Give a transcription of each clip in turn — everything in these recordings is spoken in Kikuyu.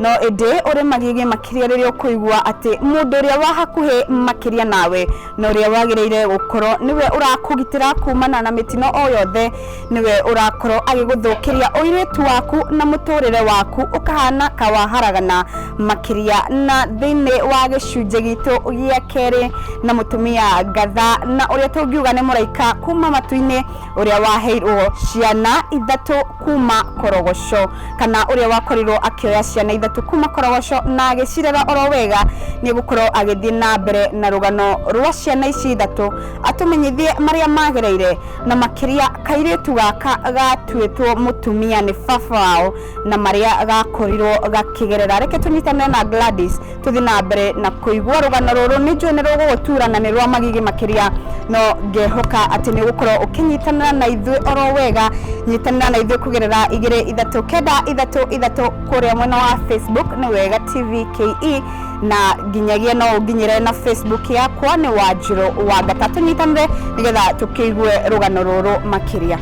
No ĩndĩ ũrĩ magigi makĩria rĩrĩa ũkũigua atĩ mũndũ ũrĩa wa hakuhĩ makĩria nawe na ũrĩa wagĩrĩire gũkorwo nĩwe ũrakũgitĩra kumana na mĩtino o yothe nĩwe ũrakorwo agĩgũthũkĩria ũirĩtu waku na mũtũrĩre waku ũkahana kawaharagana makĩria na thĩinĩ wa gĩcunjĩ gitũ gĩa kerĩ na mũtumia ngatha na ũrĩa tũngiuga nĩ mũraika kuma matu-inĩ ũrĩa waheirwo ciana ithatũ kuma korogoco kana ũrĩa wakorirwo akĩoya ciana ithatũ kuma korogoco na agĩcirera oro wega nĩ gũkorwo agĩthiĩ na mbere na rũgano rwa ciana ici ithatũ atũmenyithie marĩa magereire na makĩria kairĩtu gaka gatuĩtwo mũtumia nĩ baba wao na marĩa gakorirwo gakĩgerera reke tũnyitanĩre na Gladys tũthiĩ na mbere na kũigua rũgano rũrũ nĩ njũĩ nĩ rũgũgũtura na nĩ rwa magigi makĩria no ngehoka atĩ nĩ ũgũkorwo ũkĩnyitanĩra na ithuĩ oro wega nyitanĩra na ithuĩ kũgerera igĩrĩ ithatũ kenda ithatũ ithatũ kũrĩa mwena wa facebook nĩ wega tv ke na nginyagia no ũnginyĩre na facebook yakwa nĩ wanjirũ wa ngata tũnyitanĩre nĩgetha tũkĩigue rũgano rũrũ makĩria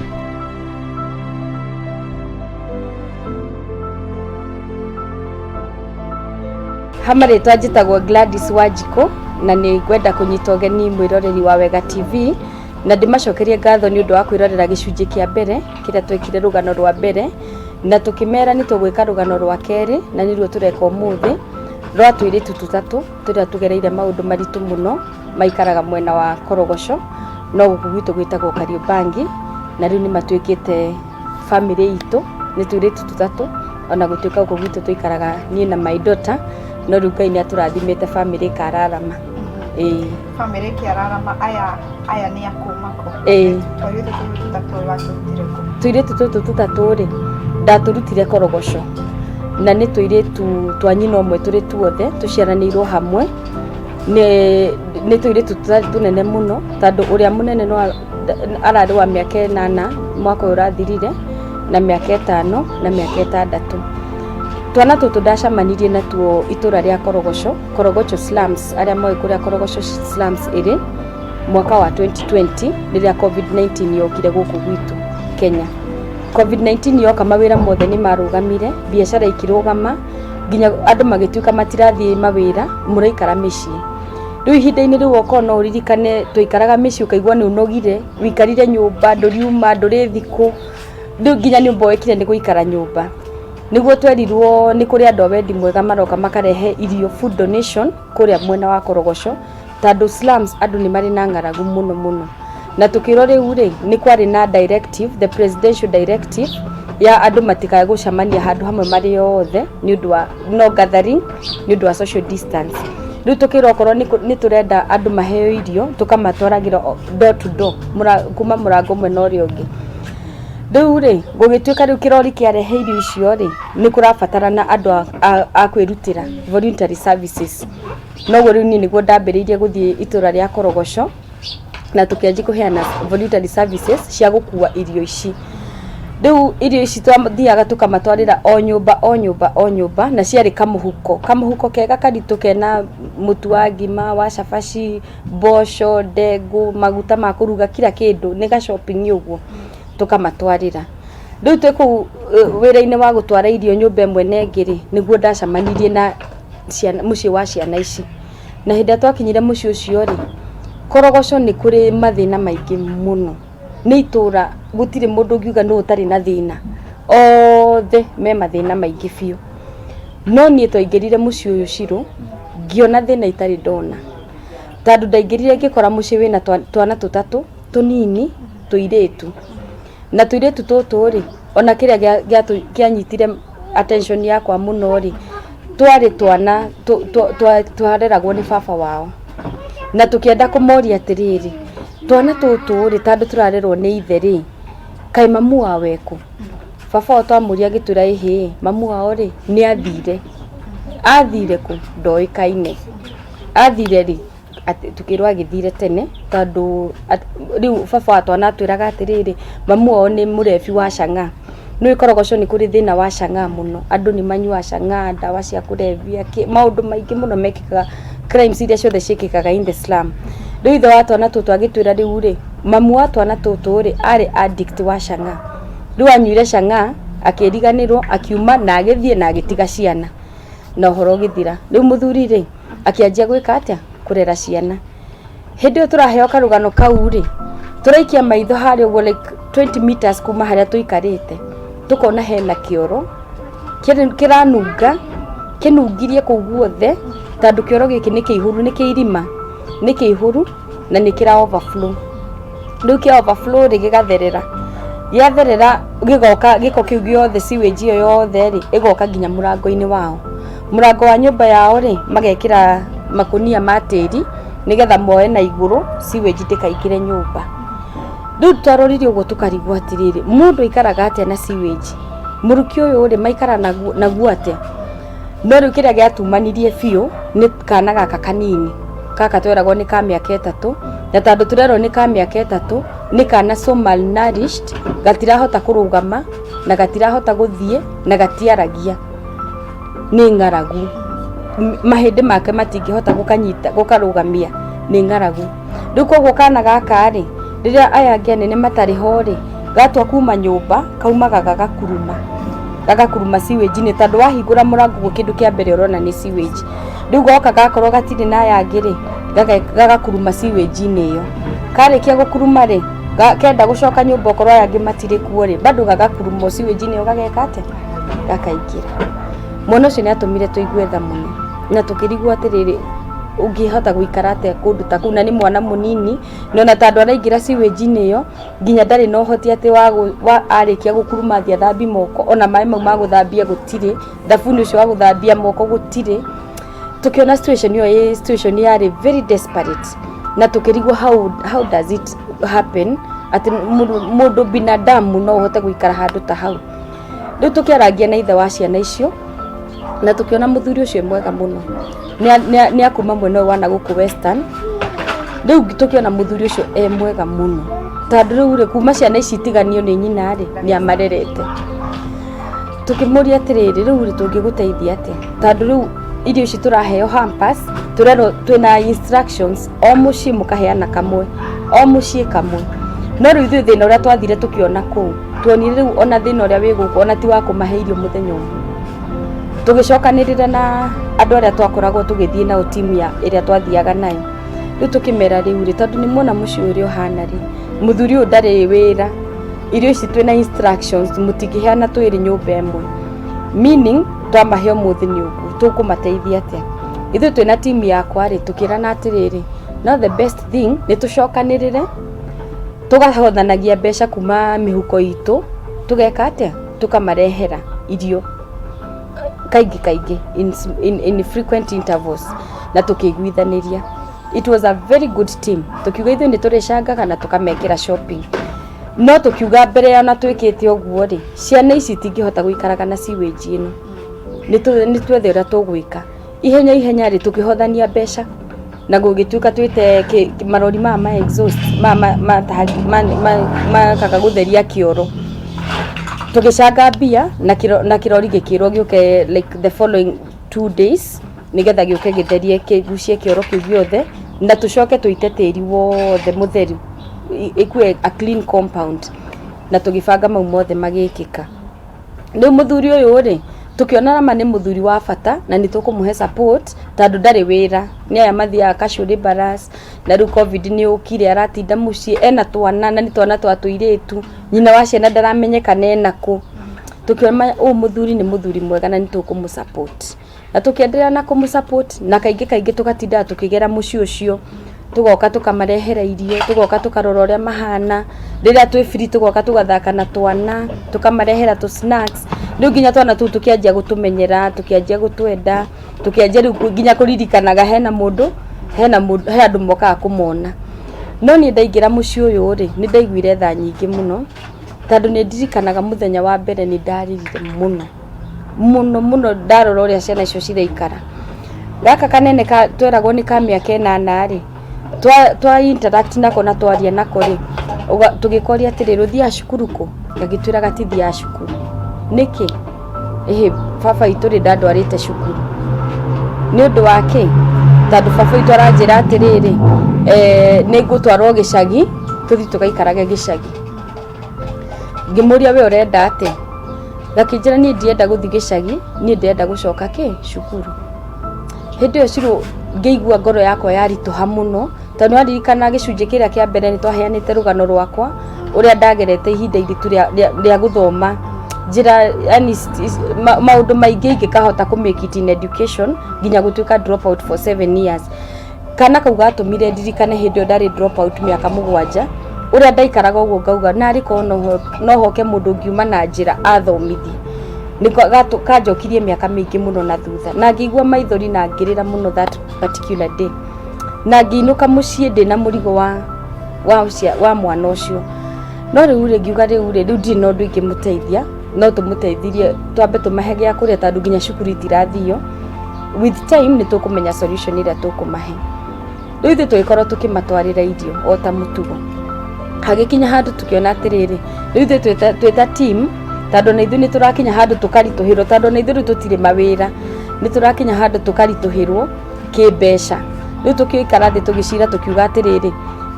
ha marĩtwa njĩtagwo Gladys Wanjikũ na nĩ ngwenda kũnyita ũgeni mwĩroreri wa Wega TV na ndĩmacokerie ngatho nĩ ũndũ wa kwĩrorera gĩcunjĩ kĩa mbere kĩrĩa twekire rũgano rwa mbere na tũkĩmera nĩ tũgwĩka rũgano rwa kerĩ na nĩruo tũreka ũmũthĩ rwa tũirĩtu tũtatũ tũrĩa tũgereire maũndũ maritũ mũno maikaraga mwena wa Korogoco no gũkũ gwitũ gwĩtagwo Kariũmbangi na rĩu nĩ matuĩkĩte Bamĩrĩ itũ nĩ tũirĩtu tũtatũ, ona gũtuĩka gũkũ gwitũ tũikaraga niĩ na my daughter, no rĩu Ngai nĩ atũrathimĩte bamĩrĩ ĩkararama. Ĩĩ. Bamĩrĩ ĩkĩararama, aya aya nĩ a kuma kũ? Ĩĩ. Tũirĩtu tũtũ tũtatũ watũrutire kũ? Tũirĩtu tũtũ tũtatũ rĩ, ndatũrutire Korogoco, na nĩ tũirĩtu twa nyina ũmwe tũrĩ tuothe, tũciaranĩirwo hamwe, nĩ nĩ tũirĩtu tũtarĩ tũnene mũno, tondũ ũrĩa mũnene no a- ararĩ wa mĩaka ĩnana mwaka ũyũ ũrathirire na mĩaka ĩtano na mĩaka ĩtandatũ. Twana tũtũ ndacamanirie natuo itũra rĩa Korogoco, Korogoco slums, arĩa moĩ kũrĩa Korogoco slums ĩrĩ mwaka wa 2020 rĩrĩa COVID-19 yokire gũkũ gwitũ Kenya. COVID-19 yoka mawĩra mothe nĩ marũgamire, biacara ikĩrũgama, nginya andũ magĩtuĩka matirathiĩ mawĩra, mũraikara mĩciĩ. rĩu ihinda-inĩ rĩu okorwo no ũririkane twaikaraga mĩciĩ ũkaigua nĩ ũnogire, ũikarire nyũmba ndũriuma ndũrĩ thikũ, rĩu nginya nĩ ũmbe wekire nĩ gũikara nyũmba, nĩguo twerirwo nĩ kũrĩ andũ a wendi mwega maroka makarehe irio, food donation, kũrĩa mwena wa Korogoco, tondũ slums andũ nĩ marĩ na ng'aragu mũno mũno. na tũkĩrwo rĩu rĩ nĩ kwarĩ na directive the presidential directive ya andũ matikae gũcemania handũ hamwe marĩ othe nĩ ũndũ wa no gathering nĩ ũndũ wa social distance rĩu tũkĩrwo okorwo nĩ kũ- nĩ tũrenda andũ maheo irio tũkamatwaragĩra o- door to door mũra- kuma mũrango ũmwe na ũrĩa ũngĩ rĩu rĩ gũgĩtuĩka rĩu kĩrori kĩarehe irio icio rĩ nĩ kũrabatarana andũ a- a- a kwĩrutĩra voluntary services noguo rĩu niĩ nĩguo ndambĩrĩirie gũthiĩ itũra rĩa korogoco na tũkĩanjia kũheana voluntary services cia gũkua irio ici rĩu irio ici twathiaga tũkamatwarĩra o nyũmba o nyũmba o nyũmba na ciarĩ kamũhuko kamũhuko kega karitũ kena mũtu wa ngima wa cabaci mboco ndengũ maguta ma kũruga kira kĩndũ nĩ ga shopping ũguo tũkamatwarĩra rĩu twĩ kũu eh, wĩra-inĩ wa gũtwara irio nyũmba ĩmwe na ĩngĩ rĩ nĩguo ndacamanirie na ciana- mũciĩ wa ciana ici Na hĩndĩ ĩrĩa twakinyire mũciĩ ũcio-rĩ, Korogoco nĩ kũrĩ mathĩna maingĩ mũno. Nĩ itũra gũtirĩ mũndũ ũngiuga nũ ũtarĩ na thĩna, othe me mathĩna maingĩ biũ. No niĩ twaingĩrire mũciĩ ũyũ Shiro, ngĩona thĩna itarĩ ndona. Tondũ ndaingĩrire ngĩkora mũciĩ wĩna twana tũtatũ tũnini tũirĩtu. na tũirĩtu tũtũ rĩ ona kĩrĩa gĩa- gĩatũ- kĩanyitire attention yakwa mũno rĩ twarĩ twana tũ- tũ- twa- twareragwo nĩ baba wao na tũkĩenda kũmoria atĩrĩrĩ twana tũtũ rĩ tandũ tũrarerwo nĩ ithe rĩ kaĩ mamu wao ekũ baba wao twamũria agĩtwĩra ĩhĩ mamu wao rĩ nĩ athire athire kũ ndoĩkaine athire rĩ atĩ tũkĩrwo agĩthire tene tondũ rĩu baba wa twana atwĩraga atĩrĩrĩ, mamu wao nĩ mũrebi wa chang'aa. Nĩ ũĩ korogoco nĩ kũrĩ thĩna wa chang'aa mũno. Andũ nĩ manyuaga chang'aa, ndawa cia kũrebia, kĩ, maũndũ maingĩ mũno mekĩkaga, crimes iria ciothe ciĩkĩkaga in the slum. Rĩu ithe wa twana tũtũ agĩtwĩra rĩu rĩ, mamu wa twana tũtũ rĩ, arĩ addict wa chang'aa. Rĩu anyuire chang'aa, akĩriganĩrwo, akiuma na agĩthiĩ na agĩtiga ciana na ũhoro ũgĩthira. Rĩu mũthuri rĩ, akĩanjia gwĩka atĩa kũrera ciana hĩndĩ ĩyo tũraheo karũgano kau rĩ tũraikia maitho harĩa ũguo like 20 meters kuma harĩa tũikarĩte tũkona hena kĩoro kĩrĩ- kĩranunga kĩnungirie kũu guothe tondũ kĩoro gĩkĩ nĩ kĩihũru nĩ kĩirima nĩ kĩihũru na nä kä ra overflow rä u kä overflow rä gä gatherera gĩatherera gĩgoka gĩko kĩu gĩothe siwage ĩyo yothe rĩ ĩgoka nginya mũrango-inĩ wao mũrango wa nyũmba yao rĩ magekĩra makũnia ma tĩri nĩgetha moe na igũrũ siwage ndĩkaingĩre nyũmba rĩu twarorire ũguo tũkarigwo atĩrĩrĩ mũndũ aikaraga atĩa na siwage mũrukĩ ũyũ rĩ maikara naguo naguo atĩa no rĩu kĩrĩa gĩatumanirie biũ nĩ kana gaka kanini gaka tweragwo nĩ ka mĩaka ĩtatũ na tandũ tũrerwo nĩ ka mĩaka ĩtatũ nĩ kana so malnourished gatirahota kũrũgama na gatirahota gũthiĩ na gatiaragia nĩ ng'aragu mahĩndĩ make matingĩhota gũkanyita gũkarũgamia nĩ ng'aragu. rĩu koguo kana gaka rĩ rĩrĩa aya angĩ anene matarĩ ho rĩ gatua kuma nyũmba kaumaga gagakuruma gagakuruma siwĩnji-inĩ tondũ wahingũra mũrango guo kĩndũ kĩa mbere ũrona nĩ siwĩnji rĩu goka gakorwo gatirĩ na aya angĩ rĩ gaga- gagakuruma siwĩnji-inĩ ĩyo karĩkia gũkuruma rĩ ga- kenda gũcoka nyũmba okorwo aya angĩ matirĩ kuo rĩ bado gagakuruma o siwĩnji-inĩ ĩyo gageka atĩ gakaingĩra mwana ũcio nĩ atũmire tũigue tha mũno na tũkĩrigwo atĩrĩrĩ ũngĩhota gũikara atĩa kũndũ ta kũu na nĩ mwana mũnini na ona tandũ araingĩra siwĩnji-inĩ ĩyo nginya ndarĩ na ũhoti atĩ wa gũ- wa arĩkia gũkuruma athiĩ athambie moko ona maĩ mau ma gũthambia gũtirĩ thabuni ũcio wa gũthambia moko gũtirĩ tũkĩona situation ĩyo ĩ situation yarĩ very desperate na tũkĩrigwo how, how does it happen atĩ mũndũ- mũndũ binadamu no ũhote gũikara handũ ta hau rĩu tũkĩarangia na ithe wa ciana icio na tũkĩona mũthuri ũcio mwega mũno nĩ akuma mwena ũyũ wa nagũkũ western rĩu tũkĩona mũthuri ũcio e mwega mũno tondũ rĩu rĩ kuma ciana ici itiganio nĩ nyina rĩ nĩ amarerete tũkĩmũria atĩrĩrĩ rĩu rĩ tũngĩgũteithia atĩa tondũ rĩu irio ici tũraheo hampers tũrerwo twĩna instructions o muciĩ mukaheana kamwe o muciĩ kamwe no rĩu ithuĩ thĩna ũrĩa twathire tũkĩona kũu tuonire rĩu ona thĩna ũrĩa wĩ gũkũ ona ti wa kũmahe irio mũthenya ũmwe tũgĩcokanĩrĩra na andũ arĩa twakoragwo tũgĩthiĩ nao timu ya ĩrĩa twathiaga nayo rĩu tũkĩmera rĩu rĩ tondũ nĩ muona mũciĩ ũrĩa ũhana rĩ mũthuri ũyũ ndarĩ wĩra irio ici twĩ na instructions mũtingĩheana twĩrĩ nyũmba ĩmwe meaning twamahe ũmũthĩ nĩ ũguo tũkũmateithia atĩa ithuĩ twĩna timu yakwa rĩ tũkĩrana atĩrĩrĩ no the best thing nĩ tũcokanĩrĩre tũgahothanagia mbeca kuma mĩhuko itũ tũgeka atĩa tũkamarehera irio kaingĩ kaingĩ in, in, in frequent intervals na tũkĩiguithanĩria it was a very good team tũkiuga ithuĩ nĩ tũrĩcangaga na tũkamekĩra shopping no tũkiuga mbere ya na twĩkĩte ũguo rĩ ciana ici itingĩhota gũikaraga na siwage ĩno nĩ tũ- nĩ twethe ũrĩa tũgwĩka ihenya ihenya rĩ tũkĩhothania mbeca na gũgĩtuĩka twĩte kĩ- kĩ- marori maya ma exhaust maya ma- ma- taha- ma- ma- makaga gũtheria kĩoro tũgĩcanga mbia na kĩro- na kĩrori gĩkĩrwo gĩũke like the following two days nĩgetha gĩũke gĩtherie kĩgucie kĩoro kĩu gĩothe na tũcoke tũite tĩri wothe mũtheru i- ĩkue a clean compound na tũgĩbanga mau mothe magĩkĩka Rĩu mũthuri ũyũ rĩ, tũkĩona ma nĩ mũthuri wa bata na nĩ tũkũmũhe support tondũ ndarĩ wĩra. Nĩ aya mathiaga Kacurĩ Barrass, na rĩu Covid nĩ yũkire aratinda mũciĩ, ena twana na nĩ twana twa tũirĩtu, nyina wa ciana ndaramenyeka ena kũ. Tũkĩona ũyũ mũthuri nĩ mũthuri mwega na nĩ tũkũmũ support. na tũkĩenderea na kũmũ support na kaingĩ kaingĩ tũgatindaga tũkĩgera mũciĩ ũcio tũgoka tũkamarehera irio tũgoka tũkarora ũrĩa mahana rĩrĩa twĩ free tũgoka tũgathaka na twana tũkamarehera tũ snacks rĩu nginya twana tũu tũkĩanjia gũtũmenyera tũkĩanjia gũtwenda tũkĩanjia rĩu nginya kũririkanaga hena mũndũ hena mũndũ he andũ mokaga kũmona no niĩ ndaingĩra mũciĩ ũyũ rĩ nĩ ndaiguire tha nyingĩ mũno tondũ nĩ ndirikanaga mũthenya wa mbere nĩ ndarĩrire mũno. mũno mũno ndarora ũrĩa ciana icio ciraikara. Gaka kanene tweragwo nĩ ka mĩaka ĩnana rĩ, twa interact nako na twaria nako rĩ, tũgĩkoria atĩrĩrĩ, ũthiaga cukuru kũ? Gagĩtwĩra gatithiaga cukuru. Nĩkĩ? Ĩhĩ baba witũ rĩ ndandwarĩte cukuru. Nĩ ũndũ wa kĩ? Tondũ baba witũ aranjĩra atĩrĩrĩ, nĩ ngũtwarwo gĩcagi, tũthiĩ tũgaikarage gĩcagi. ngĩmũria we ũrenda atĩ gakĩnjĩra niĩ ndienda gũthiĩ gĩcagi niĩ ndienda gũcoka kĩ cukuru hĩndĩ ĩyo cirũ ngĩigua ngoro yakwa yaritũha mũno tondũ nĩraririkana gĩcunjĩ kĩrĩa kĩa mbere nĩ twaheanĩte rũgano rwakwa ũrĩa ndagerete ihinda iritũ rĩa- rĩa- rĩa gũthoma njĩra yani s- s- ma- maũndũ maingĩ ingĩkahota kũmĩkiti in education nginya gũtuĩka drop out for seven years Kana kau gatũmire ndirikane hĩndĩ ĩyo ndarĩ drop out mĩaka mũgwanja ũrĩa ndaikaraga ũguo ngauga narĩ korwo no ho- no hoke mũndũ ngiuma na njĩra athomithi nĩko gatũ- kanjokirie mĩaka mĩingĩ mũno na thutha na ngĩigua maithori na ngĩrĩra mũno that particular day na ngĩinũka mũciĩ ndĩ na mũrigo wa wa, ũcia- wa mwana ũcio no rĩu rĩ ngiuga rĩu rĩ rĩu ndirĩ na ũndũ ingĩmũteithia no tũmũteithirie twambe tũmahe gĩa kũrĩa tondũ nginya cukuru itirathio with time nĩ tũkũmenya solution ĩrĩa tũkũmahe rĩu ithuĩ tũgĩkorwo tũkĩmatwarĩra irio o ta mũtugo hagĩkinya handũ tũkĩona atĩrĩrĩ rĩu ithuĩ twĩ ta- twĩ ta team tondũ na ithuĩ nĩ tũrakinya handũ tũkaritũhĩrwo tondũ na ithuĩ rĩu tũtirĩ mawĩra nĩ tũrakinya handũ tũkaritũhĩrwo kĩmbeca rĩu tũkĩikara thĩ tũgĩcira tũkiuga atĩrĩrĩ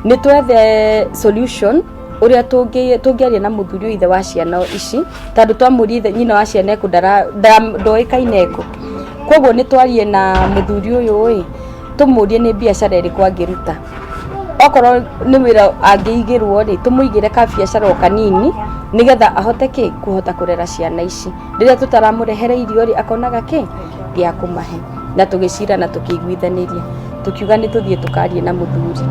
nĩ twethe solution ũrĩa tũngĩ- tũngĩaria na mũthuri ũyũ ithe wa ciana ici tondũ twamũria ithe nyina wa ciana eko ndara- nda- ndoĩkaine eko koguo nĩ twarie na mũthuri ũyũ ĩ tũmũrie nĩ biacara ĩrĩkũ angĩruta okorwo nĩ wĩra angĩigĩrwo rĩ tũmũigĩre ka biacara o kanini nĩgetha ahote kĩ kũhota kũrera ciana ici rĩrĩa tũtaramũrehere irio rĩ akonaga kĩ gĩa kũmahe na tũgĩcira na tũkĩiguithanĩria tũkiuga nĩ tũthiĩ tũkarie na mũthuri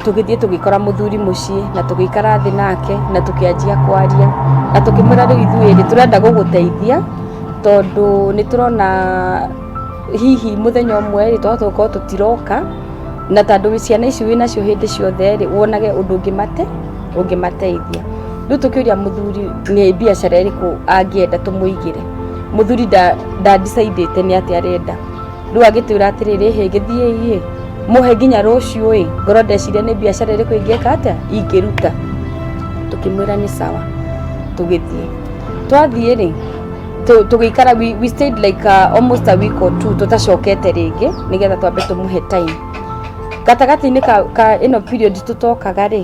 tũgĩthiĩ tũgĩkora mũthuri mũciĩ na tũgĩikara thĩ nake na tũkĩanjia kwaria na tũkĩmwĩra rĩu ithuĩ rĩ tũrenda gũgũteithia tondũ nĩ tũrona hihi mũthenya ũmwe rĩ twahota gũkorwo tũtiroka na tondũ wĩ ciana ici wĩ nacio hĩndĩ ciothe rĩ wonage ũndũ ũngĩmate ũngĩmateithia rĩu tũkĩũria mũthuri nĩ biacara ĩrĩkũ angĩenda tũmũigĩre muthuri nda nda decide te ni ati arenda riu agitwira atiri ri he githie i muhe nginya ruciu i ngoro ndecire ni biashara iriku ingeka atia ingiruta tukimwira ni sawa tugithie twathie ri tu- tugikara we, we stayed like uh, almost a week or two tutacokete ringi nigetha twambe tumuhe time gatagati-inĩ ka, ka ĩno period tũtokaga rĩ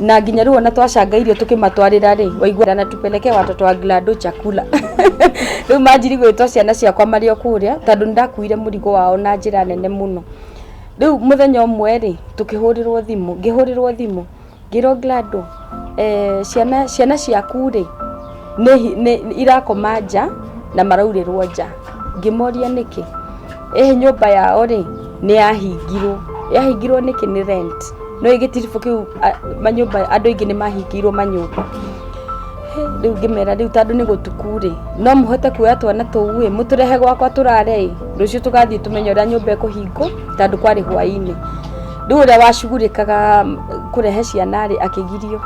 na nginya rĩu ona twacanga irio tũkĩmatwarĩra rĩ waiguaga na tupeleke watoto wa glado chakula rĩu manjiri gwĩtwo ciana ciakwa marĩ o kũrĩa tondũ nĩ ndakuire mũrigo wao na njĩra nene mũno rĩu mũthenya ũmwe rĩ tũkĩhũrĩrwo thimũ ngĩhũrĩrwo thimũ ngĩrwo glado eh, ciana ciana ciaku rĩ nĩ hi- nĩ- nĩ- irakoma nja na maraurĩrwo nja ngĩmoria nĩkĩ ĩhĩ nyũmba yao rĩ nĩ yahingirwo yahingirwo nĩkĩ nĩ rent no gĩtiribũ kĩu a- manyũmba andũ aingĩ nĩ mahingirwo manyũmba Hĩ, rĩu ngĩmera rĩu tandũ nĩ gũtuku rĩ no mũhote kuoya twana tũu ĩ mũtũrehe gwakwa tũrare ĩ rũciũ tũgathiĩ tũmenye ũrĩa nyũmba ĩkũhingwo tandũ kwarĩ hwainĩ rĩu ũrĩa wacugurĩkaga mm, kũrehe ciana rĩ akĩgirio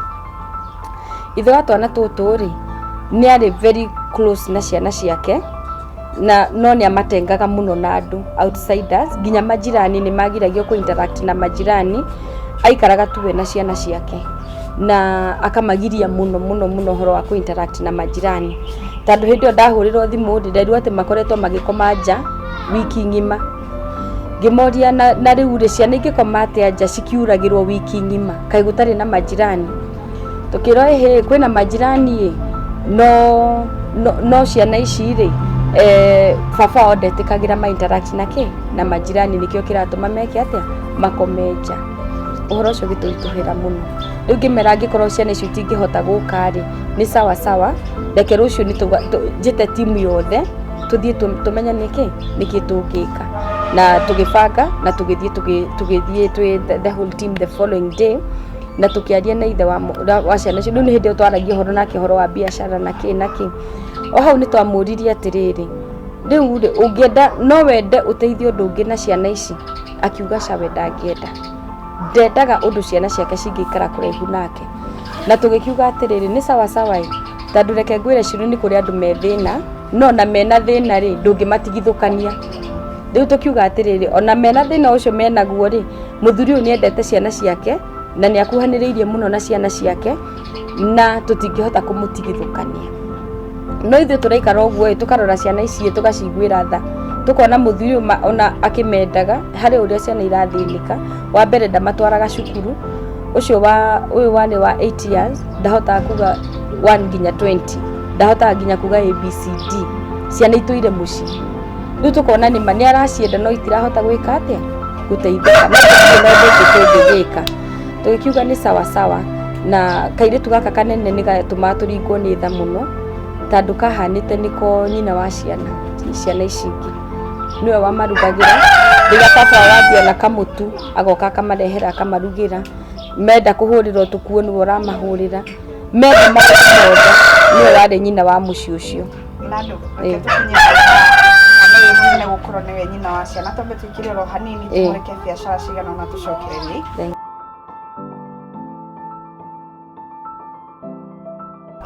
Ithe wa twana tũtũ rĩ, nĩ arĩ very close na ciana ciake, na no nĩ amatengaga mũno na andũ outsiders, nginya majirani nĩ magiragio kũ interact na majirani, aikaraga tu we na ciana ciake. Na akamagiria mũno mũno mũno ũhoro wa kũ interact na majirani. Tondũ hĩndĩ ĩyo ndahũrĩrwo thimũ rĩ, nderirwo atĩ makoretwo magĩkoma nja wiki ng'ima. ngĩmoria na, na rĩu rĩ ciana ingĩkoma atĩa nja cikiuragĩrwo wiki ng'ima kaĩ gũtarĩ na majirani tũkĩrwo ĩhĩ kwĩna majirani ĩ no, no, no ciana ici rĩ eh, baba wao ndetĩkagĩra ma interact na kĩ na majirani nĩkĩo kĩratũma meke atĩa makome nja ũhoro ũcio gĩtũritũhĩra mũno rĩu ngĩmera angĩkorwo ciana icio itingĩhota gũka rĩ nĩ sawa sawa reke rũciũ nĩ tũga- tũ- njĩte timu yothe tũthiĩ tũ- tũmenye nĩkĩ nĩkĩ tũngĩka na tũgĩbanga na tũgĩthiĩ tũgĩ- tũgĩthiĩ twĩ the- the whole team the following day na tũkĩaria na ithe wa mũ- wa- wa ciana icio rĩu nĩ hĩndĩ ĩyo twaragia ũhoro nake ũhoro wa biacara na kĩ na kĩ o hau nĩ twamũririe atĩrĩrĩ rĩu rĩ ũngĩenda no wende ũteithie ũndũ ũngĩ na ciana ici akiuga cawe ndangĩenda ndendaga ũndũ ciana ciake cingĩikara kũraihu nake Na tũgĩkiuga atĩrĩrĩ, nĩ sawa sawa ĩ, tondũ reke ngwĩre Shirũ nĩ kũrĩ andũ me thĩna, no na mena thĩna rĩ, ndũngĩmatigithũkania. Rĩu tũkiuga atĩrĩrĩ, ona mena thĩna ũcio menaguo rĩ, mũthuri ũyũ nĩ endete ciana ciake, na nĩ akuhanĩrĩirie mũno na ciana ciake, na tũtingĩhota kũmũtigithũkania. no ithuĩ tũraikara ũguo tũkarora ciana icio tũgaciguĩra tha tũkona mũthuri ona akĩmendaga harĩ ũrĩa ciana irathĩnĩka wa mbere ndamatwaraga cukuru ũcio wa ũyũ warĩ wa 8 years ndahotaga kuga 1 nginya 20 ndahotaga nginya kuga abcd ciana itũire mũciĩ rĩu tũkona nĩma nĩ aracienda no itirahota gwĩka atĩa gũteithĩka no ndĩngĩgĩka tũgĩkiuga nĩ sawasawa na kairĩtu gaka kanene nĩ gatũmaga tũringwo nĩ tha mũno tandũ kahanĩte nĩko nyina wa ciana ciana ici ingĩ nĩwe wamarugagĩra rĩrĩa baba wambia na kamũtu agoka akamarehera akamarugĩra menda kũhũrĩra ũtukũ nĩwe ũramahũrĩra menda maũndũ mothe nĩwe warĩ nyina wa mũciĩ ũcio Nandũ, reke tũkinye Ngai mwene gũkorwo nĩwe nyina wa ciana twambe twĩkĩre oro hanini Ĩĩ. tũmũreke biacara cigana ona tũcokere rĩ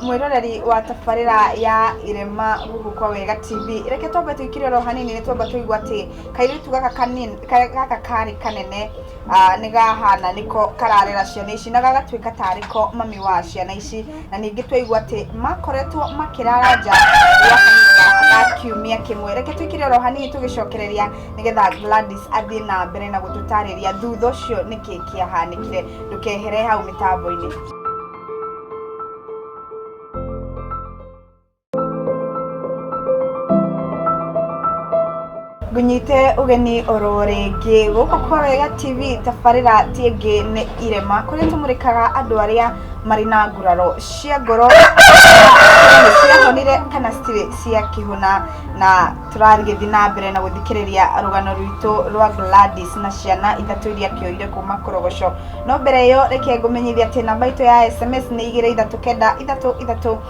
mwĩroreri wa tabarĩra ya irema gũkũ kwa wega tv reke twambe twĩkĩre oro hanini nĩ twamba tũigua atĩ kairĩtu gaka kanini- ka- gaka karĩ kanene Ah, nĩ gahana nĩko kararera ciana ici na gagatuĩka tarĩ ko mami wa ciana ici na ningĩ twaigua atĩ makoretwo makĩrara nja gwa kahinda ga kiumia kĩmwe reke twĩkĩre oro hanini tũgĩcokereria nĩgetha Gladys athiĩ na mbere na gũtũtarĩria thutha ũcio nĩkĩ kĩahanĩkire ndũkehere hau mĩtambo-inĩ Ngũnyite ũgeni oro rĩngĩ gũkũ kwa Wega TV tabarĩra ti ĩngĩ nĩ irema kũrĩa tũmũrĩkaga andũ arĩa marĩ na nguraro cia ngoro nĩ ciahonire kana citirĩ ciakĩhona na tũragĩthiĩ na mbere na gũthikĩrĩria rũgano rwitũ rwa Gladys na ciana ithatũ iria akĩoire kuma Korogoco no mbere ĩyo reke ngũmenyithie atĩ namba itũ ya SMS nĩ igĩrĩ ithatũ kenda ithatũ ithatũ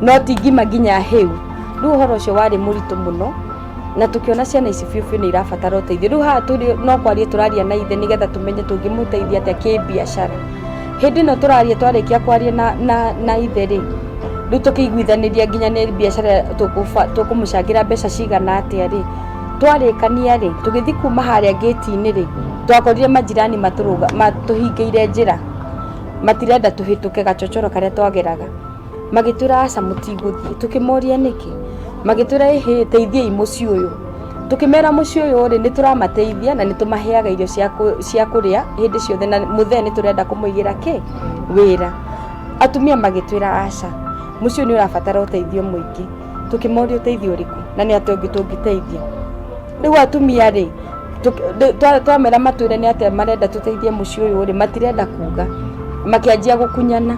no ti ngima nginya hĩu rĩu ũhoro ũcio warĩ mũritũ mũno na tũkĩona ciana ici biũ biũ nĩ irabatara ũteithio rĩu haha tũrĩ no kwaria tũraria na ithe nĩgetha tũmenye tũngĩmũteithia atĩa kĩbiacara hĩndĩ ĩno tũraria twarĩkia kwaria na, na, na ithe rĩ rĩu tũkĩiguithanĩria nginya nĩ biacara tũkũba- tũkũmũcangĩra mbeca cigana atĩa rĩ twarĩkania rĩ tũgĩthiĩ kuma harĩa ngĩti-inĩ rĩ twakorire majirani matũrũga- matũhingĩire njĩra matirenda tũhĩtũke gacocoro karĩa twageraga magĩtwĩra aca mũtigũthiĩ tũkĩmoria nĩkĩ magĩtwĩra ĩhĩ teithiai mũciĩ ũyũ tũkĩmera mũciĩ ũyũ rĩ nĩ tũramateithia na nĩ tũmaheaga irio cia kũ- cia kũrĩa hĩndĩ ciothe na mũthee nĩ tũrenda kũmũigĩra kĩ wĩra atumia magĩtwĩra aca mũciĩ ũyũ nĩ ũrabatara ũteithio mũingĩ tũkĩmoria ũteithio ũrĩkũ na nĩ atĩa ũngĩ tũngĩteithia rĩu atumia rĩ twamera matwĩre nĩ atĩa marenda tũteithie mũciĩ ũyũ rĩ matirenda kuga makĩanjia gũkunyana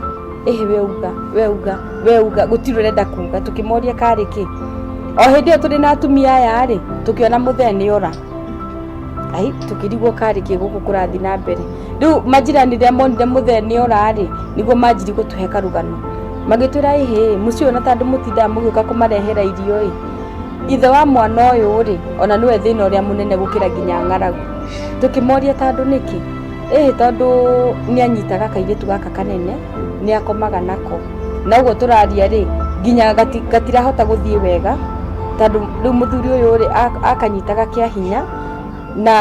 ĩhĩ we uga we uga we uga gũtirĩ ũrenda kuga tũkĩmoria karĩ kĩ o hĩndĩ ĩyo tũrĩ na atumia aya rĩ tũkĩona mũthee nĩ ora ai tũkĩrigwo karĩ kĩ gũkũ kũrathi na mbere rĩu majirani rĩa monire mũthee nĩ ora rĩ nĩguo manjiri gũtũhe karũgano magĩtwĩra ĩhĩ mũciĩ ũyũ na tandũ mũtindaga mũgĩũka kũmarehera irio ĩ Ithe wa mwana ũyũ-rĩ, o na nĩwe thĩna ũrĩa mũnene gũkĩra nginya ng'aragu. Tũkĩmoria tondũ nĩkĩ, ĩĩ tondũ nĩanyitaga kairĩtu gaka kanene, nĩakomaga nako. Na ũguo tũraria-rĩ, nginya gatirahota gũthiĩ wega, tondũ rĩu mũthuri ũyũ-rĩ, akanyitaga kĩa hinya, na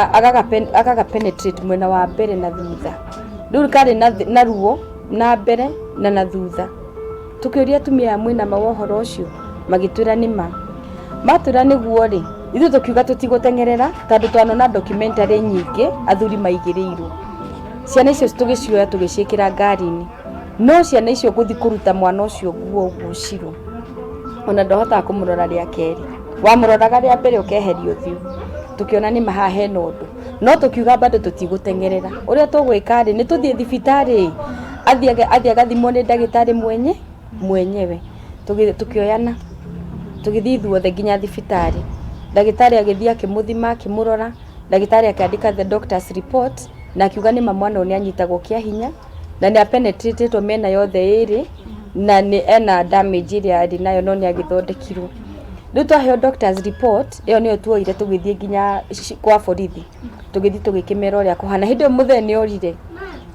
agaga penetrate mwena wa mbere na thutha. Rĩu karĩ na ruo na mbere na na thutha. Tũkĩũria atumia aya mwĩna ma wa ũhoro ũcio, magĩtwĩra nĩ ma. Matwĩra nĩguo-rĩ, ithuĩ tũkiuga tũtigũteng'erera tondũ twanona documentary nyingĩ athuri maigĩrĩirwo. Ciana icio tũgĩcioya tũgĩciĩkĩra ngari-inĩ. No ciana icio gũthiĩ kũruta mwana ũcio nguo ũguo Shiro, ona ndahotaga kũmũrora rĩa kerĩ. Wamũroraga rĩa mbere ũkeheria ũthiũ. Tũkĩona nĩ ma haha hena ũndũ. no tũkiuga bado tũtigũteng'erera ũrĩa tũgwĩka rĩ nĩ tũthiĩ thibitarĩ athiĩ aga- athiĩ agathimwo nĩ ndagĩtarĩ mwenye mwenyewe Tũgĩ- tũkĩoyana tũgĩthiĩ ithuothe nginya thibitarĩ ndagĩtarĩ agĩthiĩ akĩmũthima akĩmũrora ndagĩtarĩ akĩandĩka the doctors report na akiuga nĩ ma mwana ũyũ nĩ anyitagwo kĩa hinya na nĩ apenetratetwo mĩena yothe ĩrĩ na nĩ ena damage ĩrĩa arĩ nayo no nĩ agĩthondekirwo rĩu twaheo doctors report ĩyo nĩyo tuoire tũgĩthiĩ nginya kwa borithi tũgĩthiĩ tũgĩkĩmera ũrĩa kũhana hĩndĩ ĩyo mũthee nĩ orire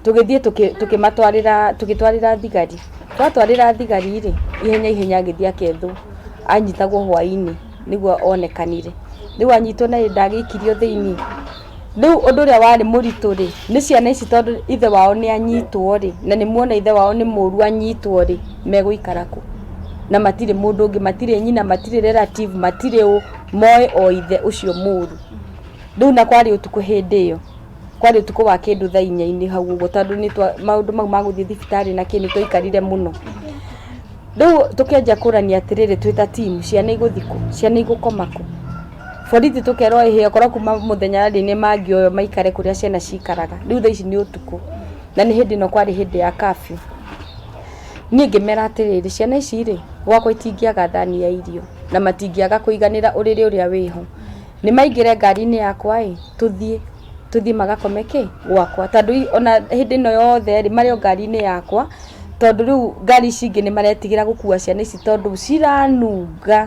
tũgĩthiĩ tũkĩmatwarĩra tũgĩtwarĩra thigari twatwarĩra thigari rĩ ihenya ihenya agĩthiĩ akethwo anyitagwo hwainĩ nĩguo onekanire rĩu anyitwo na ndagĩikirwo thĩinĩ. Rĩu ũndũ ũrĩa warĩ mũritũ rĩ, nĩ ciana ici tondũ ithe wao nĩ anyitwo rĩ, na nĩ muona ithe wao nĩ mũru anyitwo rĩ, megũikara kũ? Na matirĩ mũndũ ũngĩ, matirĩ nyina, matirĩ relative, matirĩ ũũ, moĩ o ithe ũcio mũru. Rĩu na kwarĩ ũtukũ hĩndĩ ĩyo, kwarĩ ũtukũ wa kĩndũ thaa inya-inĩ hau ũguo tondũ nĩ twa, maũndũ mau ma gũthiĩ thibitarĩ na kĩ nĩ twaikarire mũno. Rĩu tũkĩanjia kũrania atĩrĩrĩ twĩ ta team, ciana igũthiĩ kũ? Ciana igũkoma kũ? Borithi tũkerwo ĩhĩ okorwo kuma mũthenya rĩ nĩ mangĩoywo maikare kũrĩa ciana cikaraga, rĩu thaa ici nĩ ũtukũ na nĩ hĩndĩ ĩno kwarĩ hĩndĩ ya curfew. Niĩ ngĩmera atĩrĩrĩ ciana ici rĩ gwakwa itingĩaga thani ya irio na matingĩaga kũiganĩra ũrĩrĩ ũrĩa wĩho, nĩ maingĩre ngari-inĩ yakwa ĩ tũthiĩ, tũthiĩ magakome kĩ? gwakwa. Tondũ ona hĩndĩ ĩno yothe rĩ marĩ o ngari-inĩ yakwa tondũ rĩu ngari ici ingĩ nĩ maretigĩra gũkua ciana ici tondũ ciranunga.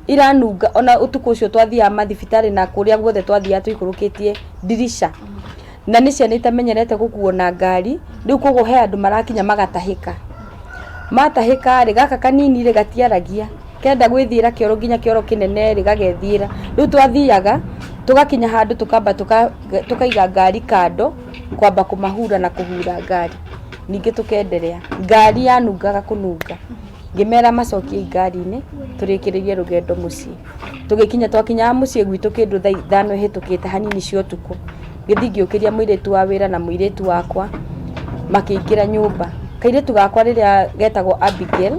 iranunga ona utuku ucio twathiaga mathibitari na kuria guothe twathiaga tuikurukitie ndirisha na ni ciana itamenyerete gukuo na ngari riu koguo he andu marakinya magatahika matahika ri gaka kanini ri gatiaragia kenda gwithiira kioro nginya kioro kinene ri gagethiira riu twathiaga tugakinya handu tukamba tuka- tukaiga ngari kando kwamba kumahura na kuhura ngari ningi tukenderea ngari yanungaga kununga Ngĩmera macokie ngari-inĩ tũrĩkĩrĩrie rũgendo mũciĩ. Tũgĩkinya twakinyaga mũciĩ gwitũ kĩndũ thaa ithano ihĩtũkĩte hanini cia ũtukũ, ngĩthiĩ ngĩũkĩria mũirĩtu wa wĩra na mũirĩtu wakwa makĩingĩra nyũmba. Kairĩtu gakwa rĩrĩa getagwo Abigail,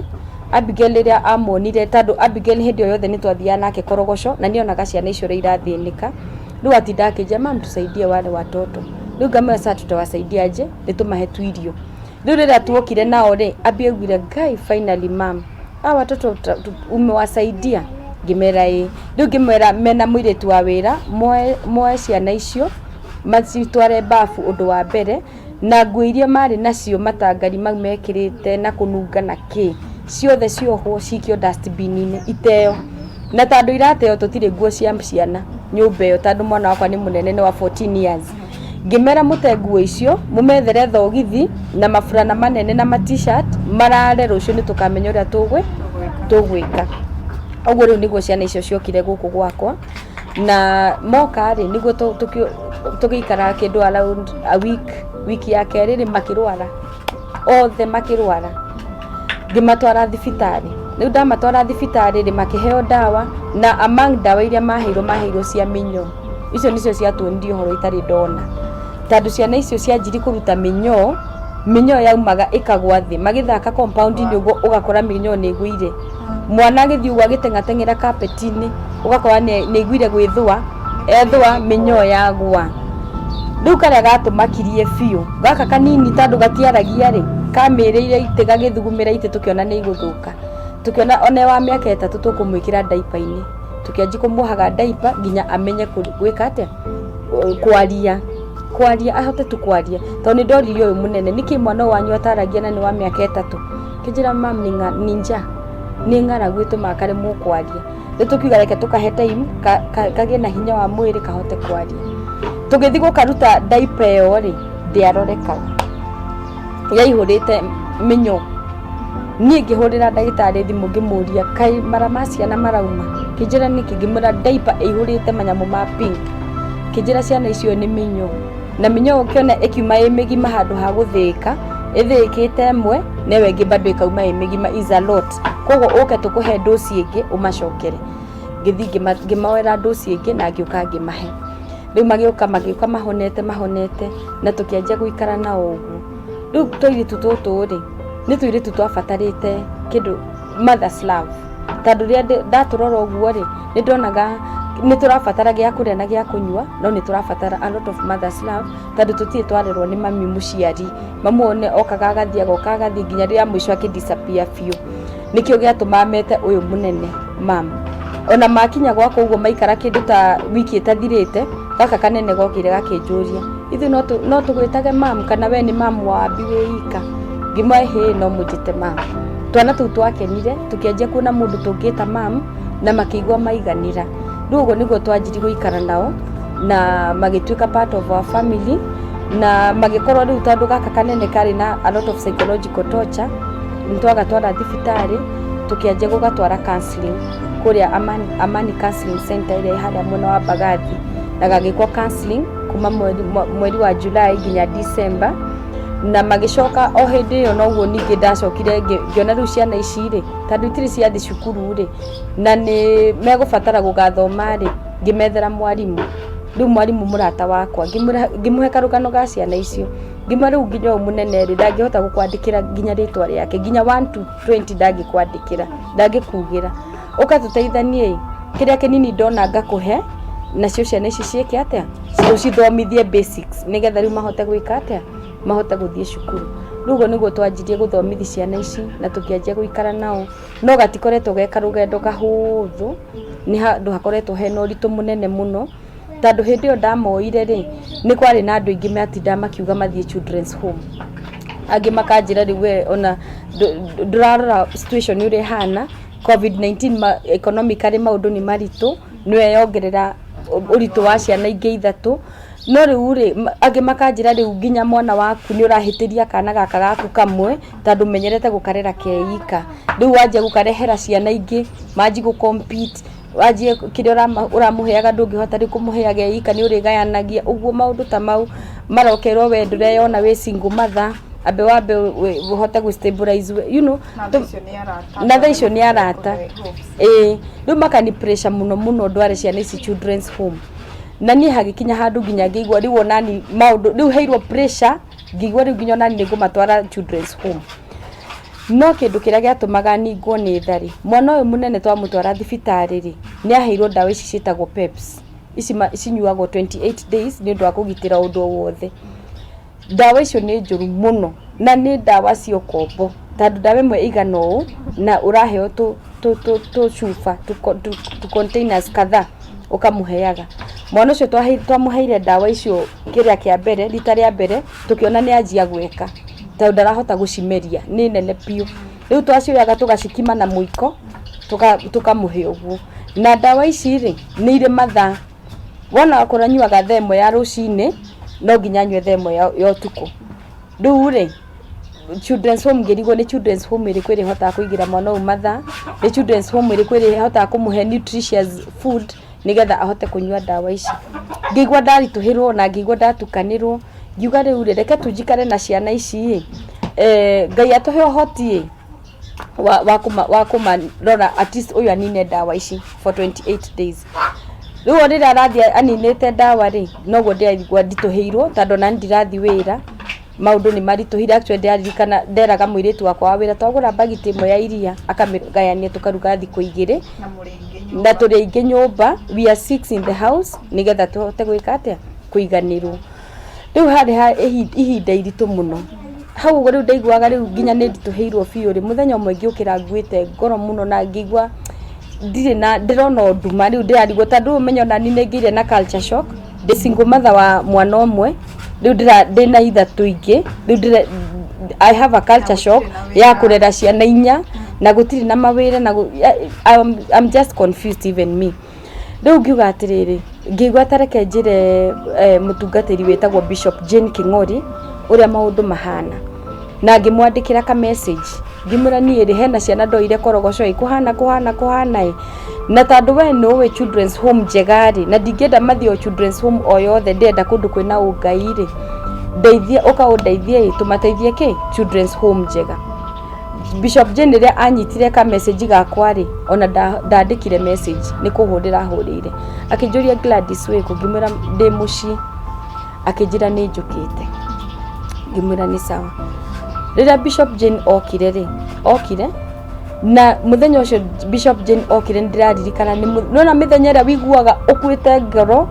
Abigail rĩrĩa amonire, tondũ Abigail hĩndĩ o yothe nĩ twathiaga nake korogoco na nĩ onaga ciana icio ũrĩa irathĩnĩka, rĩu atindaga akĩnjĩra, mum tusaidie wale watoto. Rĩu ngamwĩra sir tutawasaidia aje? Nĩ tũmahe tu irio. Rĩu rĩrĩa tuokire nao rĩ, Abby augire Ngai finally mom hawa watoto ta- tu- umewasaidia ngĩmera ĩ rĩu ngĩmera mena mũirĩtu wa wĩra moe moe ciana icio macitware babu ũndũ wa mbere na nguo iria marĩ nacio matangari mau mekĩrĩte na kũnunga na kĩ ciothe ciohwo cikio dustbin inĩ iteo na tondũ irateo tũtirĩ nguo cia ciana nyũmba ĩyo tondũ mwana wakwa nĩ mũnene nĩ wa 14 years Ngĩmera mũte nguo icio, mũmethere thogithi na maburana manene na ma t-shirt, marare rũciũ nĩ tũkamenya ũrĩa tũgwĩ, tũgwĩka. Ũguo rĩu nĩguo ciana icio ciokire gũkũ gwakwa, na moka rĩ, nĩguo tũgĩikara kĩndũ around a week, wiki ya kerĩ rĩ, makĩrwara. othe makĩrwara ngĩmatwara thibitarĩ rĩu ndamatwara thibitarĩ rĩ makĩheo ndawa na among ndawa iria maheirwo maheirwo cia mĩnyoo icio nĩcio ciatuonirie ũhoro itarĩ ndona tondũ ciana icio cianjiri kũruta mĩnyoo mĩnyoo yaumaga ĩkagwa thĩ magĩthaka compound-inĩ ũguo ũgakora mĩnyoo nĩ ĩgũire Mwana agĩthiĩ ũguo agĩteng'ateng'era kapeti-inĩ ũgakora nĩ aiguire gwĩthũa, ethũa mĩnyoo yagũa. Rĩu karĩa gatũ makirie biũ, gaka kanini tondũ gatiaragia rĩ, kamĩrĩire itĩ gagĩthugumĩra itĩ tũkĩona nĩ igũthũka. Tũkĩona ona e wa mĩaka ĩtatũ tũkũmwĩkĩra ndaipa-inĩ. Tũkĩanjia kũmwohaga ndaipa nginya amenye gwĩka atĩa, kwaria. Kwaria ahote tu kwaria. Tondũ nĩ ndorire ũyũ mũnene nĩkĩ mwana ũyũ wanyu ataragia na nĩ wa mĩaka ĩtatũ? Kĩnjĩra mam nĩ ng'a- nĩ nja nĩ ng'aragu ĩtũmaga karemwo kwaria rĩu tũkiuga reke tũkahe time ka- ka- kagĩe na hinya wa mwĩrĩ kahote kwaria tũgĩthiĩ gũkaruta ndaipa ĩyo rĩ ndĩarorekaga yaihũrĩte mĩnyoo niĩ ngĩhũrĩra ndagĩtarĩ thimũ ngĩmũria kaĩ mara ma ciana marauma kĩnjĩra nĩkĩ ngĩmwĩra ndaipa ĩihũrĩte manyamũ ma pink kĩnjĩra ciana icio nĩ mĩnyoo na mĩnyoo ũkĩona ĩkiuma ĩ mĩgima handũ ha gũthĩĩka ĩthĩĩkĩte ĩmwe na ĩyo ĩngĩ bado ĩkauma ĩ mĩgima is a lot koguo ũke tũkũhe ndũci ĩngĩ ũmacokere ngĩthi ngĩma- ngĩmoera ndũci ĩngĩ na ngĩũka ngĩmahe rĩu magĩũka magĩũka mahonete mahonete na tũkĩanjia gũikara na ũguo rĩu tũirĩtu tũtũ rĩ nĩ tũirĩtu twabatarĩte kĩndũ mother's love Tondũ rĩrĩa ndatũrora ũguo rĩ, nĩ ndonaga nĩ tũrabatara gĩa kũrĩa na gĩa kũnyua, no nĩ tũrabatara a lot of mother's love, tondũ tũtirĩ twarerwo nĩ mami mũciari. Mamu one okaga agathiĩ, agoka agathiĩ nginya rĩrĩa mũico akĩ disappear biũ. Nĩkĩo gĩatũmaga mete ũyũ mũnene mum. Ona makinya gwakwa ũguo maikara kĩndũ ta wiki ĩtathirĩte, gaka kanene gokire gakĩnjũria. ithu no tũ- no tũgwĩtage mam kana we nĩ mam wa abi wĩ ika ngĩmwa hĩ no mũnjĩte mam twana tũu twakenire tũkĩanjia kuona mũndũ tũngĩta mam na makĩigua maiganĩra rĩu ũguo nĩguo twanjiri gũikara nao na magĩtuĩka part of our family na magĩkorwo rĩu tondũ gaka kanene karĩ na a lot of psychological torture nĩ twagatwara thibitarĩ tũkĩanjia gũgatwara counseling kũrĩa amani, amani counseling center ĩrĩa ĩ harĩa mwena wa mbagathi na gagĩkwo counseling kuma mweri, mwa- mweri wa July nginya December na magĩcoka o hĩndĩ ĩyo noguo ningĩ ndacokire ngĩ- ngĩona rĩu ciana ici rĩ tondũ itirĩ ciathi cukuru rĩ na nĩ megũbatara gũgathoma rĩ ngĩmethera mwarimũ rĩu mwarimũ mũrata wakwa ngĩmũra- ngĩmũhe karũgano ga ciana icio ngĩmwa rĩu nginya ũyũ mũnene rĩ ndangĩhota gũkwandĩkĩra nginya rĩtwa rĩake nginya 1 to 20 ndangĩkwandĩkĩra ndangĩkugĩra ũka tũteithanie kĩrĩa kĩnini ndona ngakũhe nacio ciana ici ciĩke atĩa ũcithomithie basics nĩgetha rĩu mahote gwĩka atĩa mahote gũthiĩ cukuru rĩu ũguo nĩguo twanjirie gũthomithi ciana ici na tũkĩanjia gũikara nao no gatikoretwo ge karũgendo kahũthũ nĩ handũ hakoretwo hena ũritũ mũnene mũno tondũ hĩndĩ ĩyo ndamoire rĩ nĩ kwarĩ na andũ aingĩ matinda makiuga mathiĩ children's home angĩ makanjĩra rĩu we ona ndũ- ndũ- ndũrarora situation ũrĩa ĩhana Covid-19 economically maũndũ nĩ maritũ, nĩ yo yongerera ũritũ wa ciana ingĩ ithatũ, no rĩu rĩ, angĩ makanjĩra rĩu nginya mwana waku nĩ ũrahĩtĩria kana gaka gaku kamwe, tondũ ũmenyerete gũkarera ke ika. Rĩu wanjia gũkarehera ciana ingĩ, manji gũ compete. wanjie kĩrĩa ũrama- ũramũheaga ndũngĩhota rĩu kũmũheaga e ika nĩ ũrĩgayanagia ũguo maũndũ ta mau marokerwo we ndũreyona wĩ single mother ambe wambe wĩ- ũhote gwĩ stabilize we- you know tũ- na thaa icio nĩ arata ĩĩ rĩu makani pressure mũno mũno ndware ciana ici children's home na niĩ hagĩkinya handũ nginya ngĩigua rĩu onani maũndũ rĩu heirwo pressure ngĩigua rĩu nginya onani nĩ ngũmatwara children's home No kĩndũ kĩrĩa gĩatũmaga ningwo nĩ tha rĩ, mwana ũyũ mũnene twamũtwara thibitarĩ rĩ, nĩ aheirwo ndawa ici ciĩtagwo PEPS, ici cinyuagwo twenty eight days nĩ ũndũ wa kũgitĩra ũndũ o wothe. Ndawa icio nĩ njũru mũno na nĩ ndawa cia ũkombo tondũ ndawa ĩmwe ĩigana ũũ na ũraheo tũcuba, tũ containers kadhaa ũkamũheaga. Mwana ũcio twamũheire ndawa icio kĩrĩa kĩa mbere, rita rĩa mbere. tũkĩona nĩ anjia gweka tondũ ndarahota gũcimeria nĩ nene biũ rĩu twacioyaga tũgacikima na mũiko tũka- tũkamũhe ũguo na ndawa ici rĩ nĩ irĩ mathaa wona akorwo anyuaga thaa ĩmwe ya rũcinĩ no nginya anyue thaa ĩmwe ya ya ũtukũ rĩu rĩ children's home ngĩrigwo nĩ children's home ĩrĩkũ ĩrĩhotaga kũigĩra mwana ũyũ mathaa nĩ children's home ĩrĩkũ ĩrĩhotaga kũmũhe nutritious food nĩgetha ahote kũnyua ndawa ici. Ngĩigua ndaritũhĩrwo na ngĩigua ndatukanĩrwo, ngiuga rĩu rĩ, reke tu njikare na ciana ici ĩ, eh, Ngai atũhe ũhoti ĩ, wa, wa, kũma, wa kũmarora at least ũyũ anine ndawa ici for 28 days rĩu o rĩrĩa arathiĩ aninĩte ndawa rĩ noguo ndĩraigua nditũhĩirwo tondũ ona niĩ ndirathi wĩra maũndũ nĩ maritũhire actually ndaririkana nderaga mũirĩtu wakwa wa wĩra twagũra bagiti ĩmwe ya iria akamĩgayania tũkaruga thikũ igĩrĩ na tũrĩ aingĩ nyũmba we are six in the house nĩgetha tũhote gwĩka atĩa kũiganĩrwo rĩu harĩ ha ihi- ihinda iritũ mũno hau ũguo rĩu ndaiguaga rĩu nginya nĩ nditũhĩirwo biũ rĩ mũthenya ũmwe ngĩũkĩra nguĩte ngoro mũno na ngĩigua ndirĩ na ndĩrona o nduma rĩu ndĩrarigwo ta ndũũmenya ona niĩ nĩ ngĩire na culture shock ndĩ single mother wa mwana ũmwe rĩu ndĩra- ndĩ na ithatũ ingĩ rĩu ndĩra- I have a culture shock ya kũrera ciana inya na gũtirĩ na mawĩra na gũ- ya- I'm, I'm just confused even me rĩu ngiuga atĩrĩrĩ ngĩigua tareke njĩre eh, mũtungatĩri wĩtagwo bishop jane king'ori ũrĩa maũndũ mahana na ngĩmwandĩkĩra ka message ngĩmwĩra niĩ rĩ hena ciana ndoire korogoco ĩ kũhana kũhana kũhana ĩ na tondũ we nĩ ũĩ children's home njega rĩ na ndingĩenda mathiĩ o children's home o yothe ndĩrenda kũndũ kwĩna ũngai rĩ ndeithia ũka ũndeithie ĩ tũmateithie kĩ children's home njega Bishop Jane rĩrĩa anyitire ka message gakwa rĩ ona nda- ndandĩkire message nĩ kũhũrĩra ahũrĩire akĩnjũria Gladys wĩkũ ngĩmwĩra ndĩ mũciĩ akĩnjĩra nĩ njũkĩte ngĩmwĩra nĩ sawa rĩrĩa bishop jane okire rĩ okire na muthenya ucio bishop jane okire ndiraririkana nona mithenya ĩrĩa wiguaga ũkuĩte ngoro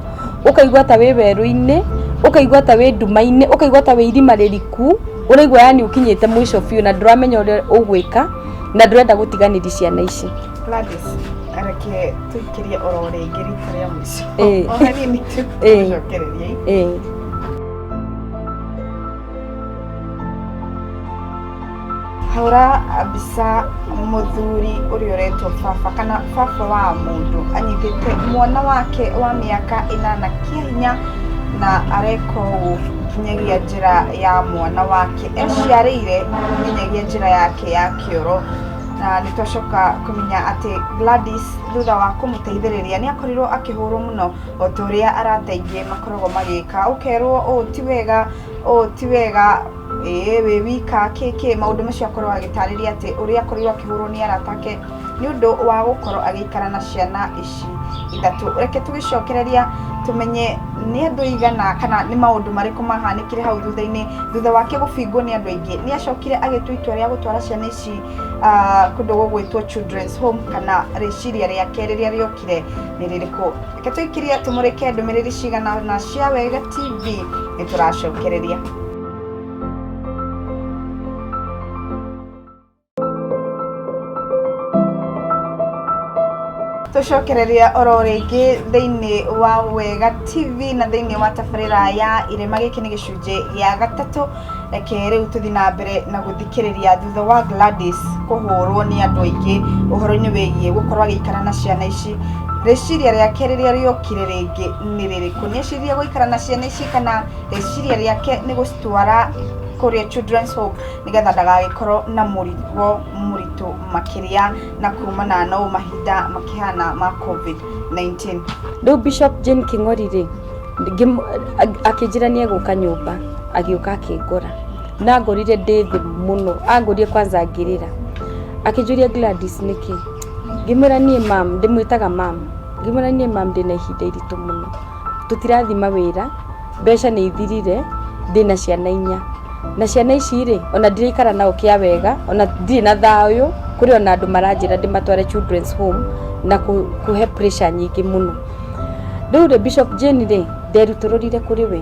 ukaigua ta wĩ werũ-inĩ ukaigua ta wĩ nduma-inĩ ukaigua ta wĩ irima rĩriku ũraigua yani ũkinyĩte mũico biũ na ndũramenya ũrĩa ũgwĩka na ndũrenda gũtiganĩria ciana ici Gladys, areke tũikĩrie oro rĩngĩ rita rĩa mũico Eh. o hanini tu Eh. gũcokereria Eh. hũra mbica mũthuri ũrĩa ũretwo baba kana baba wa mũndũ anyitĩte mwana wake wa mĩaka ĩnana kĩa hinya na areka ũũ nginyagia njĩra ya mwana wake eciarĩire nginyagia njĩra yake ya kĩoro na nĩ twacoka kũmenya atĩ Gladys thutha wa kũmũteithĩrĩria nĩ akorirwo akĩhũrwo mũno o ta ũrĩa arata aingĩ makoragwo magĩka ũkerwo ũũ ti wega ũũ ti wega ĩĩ wĩ wika kĩkĩ maũndũ macio akorwo agĩtarĩria atĩ ũrĩa akorirwo akĩhũrwo nĩ arata ake nĩ ũndũ wa gũkorwo agĩikara na ciana ici ithatũ reke tũgĩcokereria tũmenye nĩ andũ aigana kana nĩ maũndũ marĩkũ mahanĩkire hau thutha-inĩ thutha wake gũbingwo nĩ andũ aingĩ nĩ acokire agĩtua itua rĩa gũtwara ciana ici ci ah, kũndũ gũgwĩtwo children's home kana rĩciria rĩake rĩrĩa rĩokire nĩ rĩrĩkũ reke tũikirie tũmũrĩke ndũmĩrĩri cigana na cia wega tv nĩ tũracokereria tũcokereria oro rĩngĩ thĩinĩ wa wega tv na thĩinĩ wa tabarĩra ya irĩma gĩkĩ nĩ gĩcunjĩ gĩa gatatũ Reke rĩu tũthiĩ na mbere na gũthikĩrĩria thutha wa Gladys kũhũrwo nĩ andũ aingĩ ũhoro-inĩ wĩgiĩ gũkorwo agĩikara na ciana ici, rĩciria rĩake rĩrĩa rĩokire rĩngĩ nĩ rĩrĩkũ? Nĩ eciririe gũikara na ciana ici kana rĩciria rĩake nĩ gũcitwara kũrĩa Children's Home nĩgetha ndagagĩkorwo na mũrigo mũritũ makĩria na kumana na ũũ mahinda makĩhana ma Covid-19? Rĩu Bishop Jane Kĩng'ori-rĩ, akĩnjĩra nĩ egũka nyũmba agĩũka akĩngora na angorire ndĩ thĩ mũno angorie kwanza ngĩrĩra akĩnjũria Gladys nĩkĩ ngĩmwĩra niĩ mam ndĩmwĩtaga mam ngĩmwĩra niĩ mam ndĩna ihinda iritũ mũno tũtirathima wĩra mbeca nĩ ithirire ndĩna ciana inya na ciana ici rĩ ona ndiraikara nao kĩa wega ona ndirĩ na thayũ kũrĩ ona andũ maranjĩra ndĩmatware children's home na kũhe pressure nyingĩ mũno. rĩu rĩ Bishop Jane rĩ nderutũrũrire kũrĩ we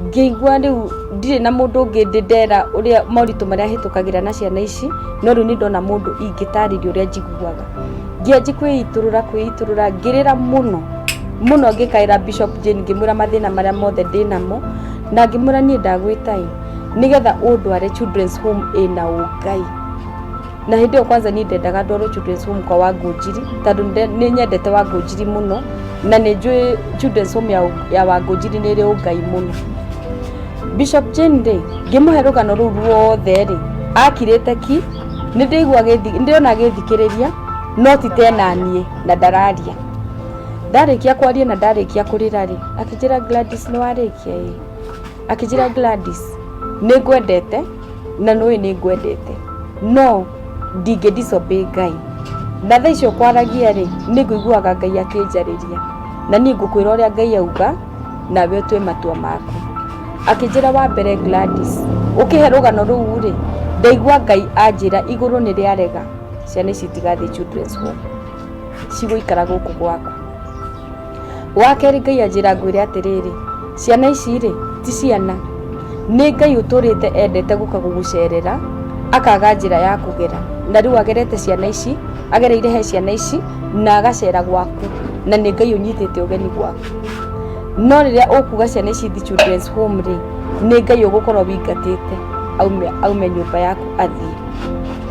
ngĩigua rĩu ndirĩ na mũndũ ũngĩ ndĩ ndera ũrĩa moritũ marĩa hĩtũkagĩra na ciana ici no rĩu nĩ ndona mũndũ ingĩtarĩria ũrĩa njiguaga ngĩanji kwĩitũrũra kwĩitũrũra ngĩrĩra mũno mũno ngĩkaĩra Bishop Jane ngĩmwĩra mathĩna marĩa mothe ndĩ namo na ngĩmwĩra niĩ ndagwĩta ĩ nĩgetha ũndware children's home ĩna ũngai. na hĩndĩ ĩyo kwanza niĩ ndendaga ndorwo children's home kwa wangũnjiri tondũ nde- nĩ nyendete wangũnjiri mũno na nĩ njũĩ children's home ya, ya wangũnjiri nĩ ĩrĩ ũngai mũno bishop jane rĩ ngĩmũhe rũgano rũu ruothe rĩ akirĩte ki nĩ ndĩigua agĩthi- nĩ ndĩrona agĩthikĩrĩria no ti tena niĩ na ndararia ndarĩkia kwaria na ndarĩkia kũrĩra rĩ akĩnjĩra gladys nĩ warĩkia ĩ akĩnjĩra Gladys nĩ ngwendete na nũĩ nĩ ngwendete no ndingĩ disobey ngai na thaa icio kwaragia rĩ nĩ ngũiguaga ngai akĩnjarĩria na niĩ ngũkwĩra ũrĩa ngai auga nawe ũtue matua maku akĩnjĩra wa mbere Gladys ũkĩhe rũgano rũu rĩ ndaigua ngai anjĩra igũrũ nĩ rĩarega ciana ici itigathiĩ children's home cigũikara gũkũ gwaku wa kerĩ ngai anjĩra ngwĩre atĩrĩrĩ ciana ici rĩ ti ciana nĩ ngai ũtũrĩte endete gũka gũgũcerera akaga njĩra ya kũgera na rĩu agerete ciana ici agereire he ciana ici na agacera gwaku na nĩ ngai ũnyitĩte ũgeni gwaku no rĩrĩa ũkuga ciana ici thi children's home rĩ nĩ ngai ũgũkorwo wĩingatĩte aume aume nyũmba yaku athiĩ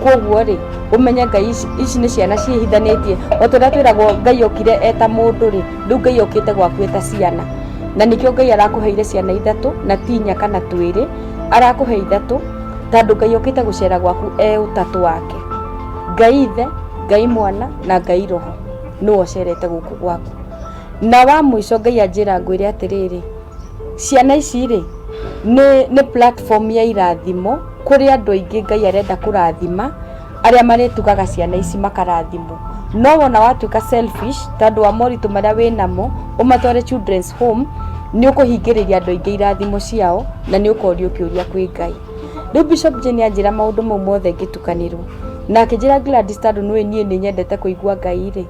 koguo rĩ ũmenye ngai ici ici nĩ ciana ciĩhithanĩtie ota ũrĩa twĩragwo ngai okire eta mũndũ rĩ rĩu ngai okĩte gwaku eta ciana na nĩkĩo ngai arakũheire ciana ithatũ na ti inya kana twĩrĩ arakũhe ithatũ tondũ ngai okĩte gũcera gwaku e ũtatũ wake ngai ithe ngai mwana na ngai roho nĩwe ũcerete gũkũ gwaku na wa mũico ngai anjĩra ngwĩre atĩrĩrĩ Ciana ici rĩ, nĩ platform ya irathimo kũrĩ andũ aingĩ Ngai arenda kũrathima arĩa marĩtugaga ciana ici makarathimwo. No wona watuĩka selfish tondũ wa moritũ marĩa wĩnamo ũmatware children's home nĩ ũkũhingĩrĩria andũ aingĩ irathimo ciao na nĩ ũkorio kĩũria kwĩ Ngai. Rĩu Bishop Jane anjĩra maũndũ mau mothe ngĩtukanĩrwo na akĩnjĩra Gladys tondũ nĩũĩ niĩ nĩ nyendete kũigua Ngai rĩ,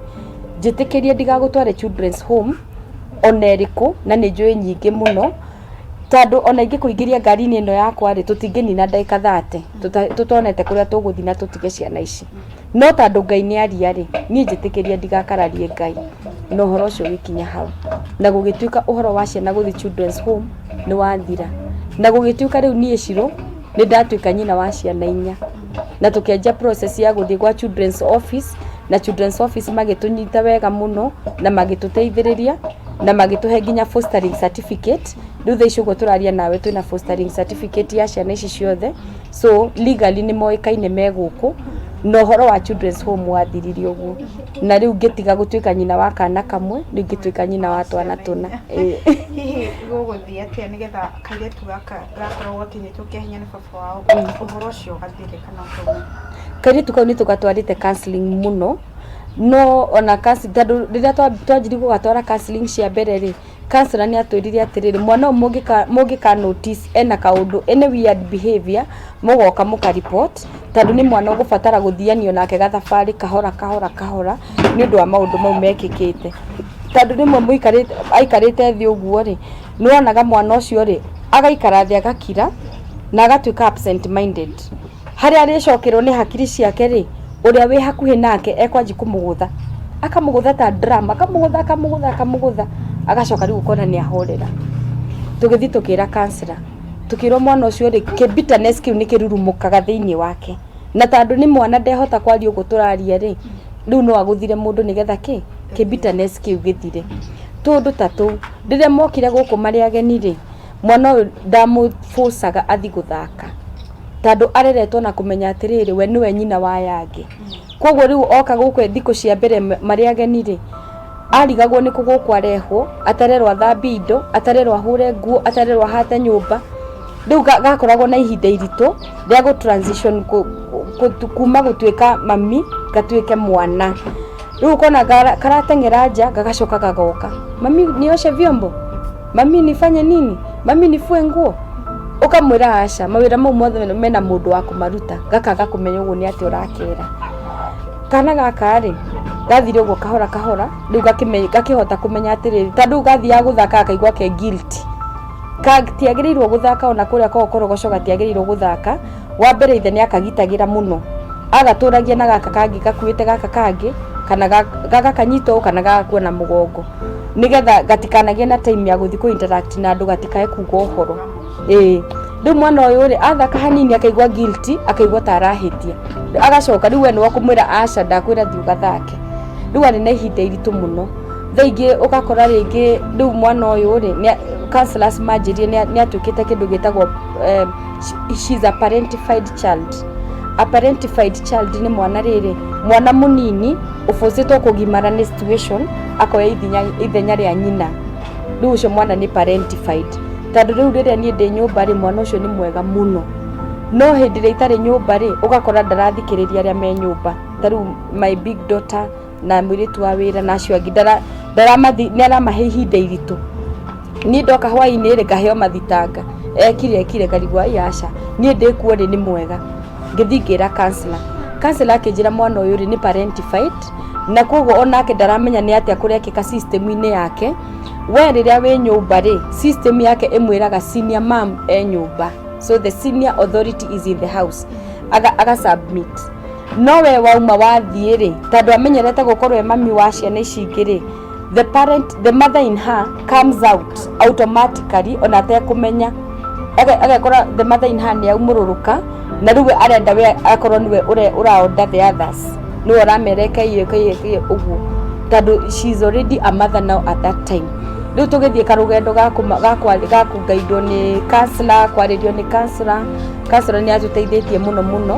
njĩtĩkĩrie ndigagũtware children's home ona ĩrĩkũ na nĩ njũĩ nyingĩ mũno, tondũ ona ingĩkũingĩria ngari-inĩ ĩno yakwa rĩ, tũtingĩnina ndagĩka thate tũtonete kũrĩa tũgũthiĩ na tũtige ciana ici. No tondũ Ngai nĩ aria rĩ, niĩ njĩtĩkĩria ndigakararie Ngai na ũhoro ũcio ũgĩkinya hau. Na gũgĩtuĩka ũhoro wa ciana gũthiĩ children's home nĩ wathira. Na gũgĩtuĩka rĩu niĩ Shirũ... nĩ ndatuĩka nyina wa ciana inya na tũkĩanjia process ya gũthiĩ gwa children's office na children's office magĩtũnyita wega mũno na magĩtũteithĩrĩria na magĩtũhe nginya fostering certificate rĩu thaa ici ũguo tũraria nawe twĩna fostering certificate ya ciana ici ciothe so legally nĩ moĩkaine me gũkũ na ũhoro wa children's home wathirire ũguo na rĩu ngĩtiga gũtuĩka nyina wa kana kamwe rĩu ngĩtuĩka nyina wa twana tũna Ĩĩ. hihi gũgũthiĩ atĩa nĩgetha Kairĩtu gaka gakoragwo gakinyĩtwo kĩa hinya nĩ baba wao ũhoro ũcio gathire kana ũkauma. Kairĩtu kau nĩ tũgatwarĩte counseling mũno no ona counseling tondũ rĩrĩa twanjirie gũgatwara counseling cia mbere rĩ, counsellor nĩ atwĩrire atĩrĩrĩ mwana ũyũ mũngĩka notice ena kaũndũ any weird behaviour mũgoka mũka report tondũ nĩ mwana ũgũbatara gũthianio nake gathabarĩ kahora kahora kahora nĩ ũndũ wa maũndũ mau mekĩkĩte. Tondũ rĩmwe aikarĩte thĩ ũguo rĩ... nĩwonaga mwana ũcio rĩ agaikara thĩ agakira na agatuĩka absent minded harĩa arĩcokerwo nĩ hakiri ciake rĩ ũrĩa wĩ hakuhĩ nake ekwanji kũmũgũtha akamũgũtha ta drum akamũgũtha akamũgũtha akamũgũtha agacoka rĩu ũkona nĩ ahorera tũgĩthiĩ tũkĩra kansra tũkĩrwo mwana ũcio rĩ kĩ bitterness kĩu nĩ kĩrurumũkaga thĩinĩ wake na tandũ nĩ mwana ndehota kwaria ũguo tũraria rĩ rĩu no agũthire mũndũ nĩgetha kĩ kĩ bitterness kĩu gĩthire tũndũ ta tũu Rĩrĩa mokire gũkũ marĩ ageni rĩ, mwana ũyũ ndamũ force aga athiĩ gũthaka, tondũ areretwo na kũmenya atĩrĩrĩ we nĩwe nyina wa aya angĩ. Koguo rĩu oka gũkũ thikũ cia mbere marĩ ageni rĩ, arigagwo nĩkũ gũkũ arehwo, atarerwo athambie indo, atarerwo ahũre nguo, atarerwo ahate nyũmba. Rĩu gakoragwo na ihinda iritũ rĩa gũ transition kuma gũtuĩka mami gatuĩke mwana. Rĩu kona karateng'era nja gagacoka gagoka, mami nioshe vyombo, mami nifanye nini, mami nifue nguo ukamwira aca mawira mau mothe mena mundu wa kumaruta gakaga kumenya uguo ni ati urakera kana gaka ri gathire uguo kahora kahora riu gakihota kumenya atiriri tondu gathiaga guthaka akaigua ke guilty gatiagĩrĩirwo gũthaka ona kũrĩa kwa ũkorogoco gatiagĩrĩirwo gũthaka. Wa mbere ithe nĩ akagitagĩra mũno, agatũragia na gaka kangĩ gakuĩte gaka kangĩ, kana gagakanyita ũũ kana gagakua na mũgongo, nĩgetha gatikanagĩe na time ya gũthiĩ kũ interact na andũ gatikae kuga ũhoro. Ĩĩ. Rĩu mwana ũyũ rĩ, athaka hanini akaigua guilty, akaigua ta arahĩtia, agacoka rĩu we nĩwe ũkũmwĩra aca ndakwĩra thiĩ ũgathake. Rĩu arĩ na ihinda iritũ mũno. Thaa ingĩ ũgakora rĩngĩ rĩu mwana ũyũ rĩ, counsellors manjĩrire nĩ atuĩkĩte kĩndũ gĩtagwo She- she is a parentified child a parentified child nĩ mwana rĩrĩ mwana mũnini ũbũcĩtwo kũgimara nĩ situation akoya ithinya- ithenya rĩa nyina rĩu ũcio mwana nĩ parentified tondũ rĩu rĩrĩa niĩ ndĩ nyũmba rĩ mwana ũcio nĩ mwega mũno no hĩndĩ ĩrĩa itarĩ nyũmba rĩ ũgakora ndarathikĩrĩria arĩa me nyũmba ta rĩu my big daughter na mwiritu wa wira na acio angi ndaramathi ndaramahe ihinda iritu ni ndoka hwaini ri ngaheo mathitanga ekire ekire karibu ai aca ni ndi kuo ri ni mwega ngithi ngira kansla kansla akinjira mwana uyu ri ni parentified na koguo onake ndaramenya ni atia kurekika system-inĩ yake we rĩrĩa wĩ nyũmba rĩ system yake ĩmwĩraga senior mam e nyũmba so the senior authority is in the house aga, aga submit no we wauma wathiĩ rĩ tondũ amenyerete gũkorwo e mami wa ciana ici ingĩ rĩ the parent the mother in her comes out automatically ona atekũmenya Age- agekora the mother in her nĩ aumũrũrũka na rĩu we arenda we akorwo nĩwe ũre- ũraonda the others nĩwe ũramere kaiye kaiye kaiye ũguo tondũ she is already a mother now at that time rĩu tũgĩthiĩ karũgendo ga kũma- ga kwa- ga kũgaidwo nĩ kansla kwarĩrio nĩ kansla kansla nĩ atũteithĩtie mũno mũno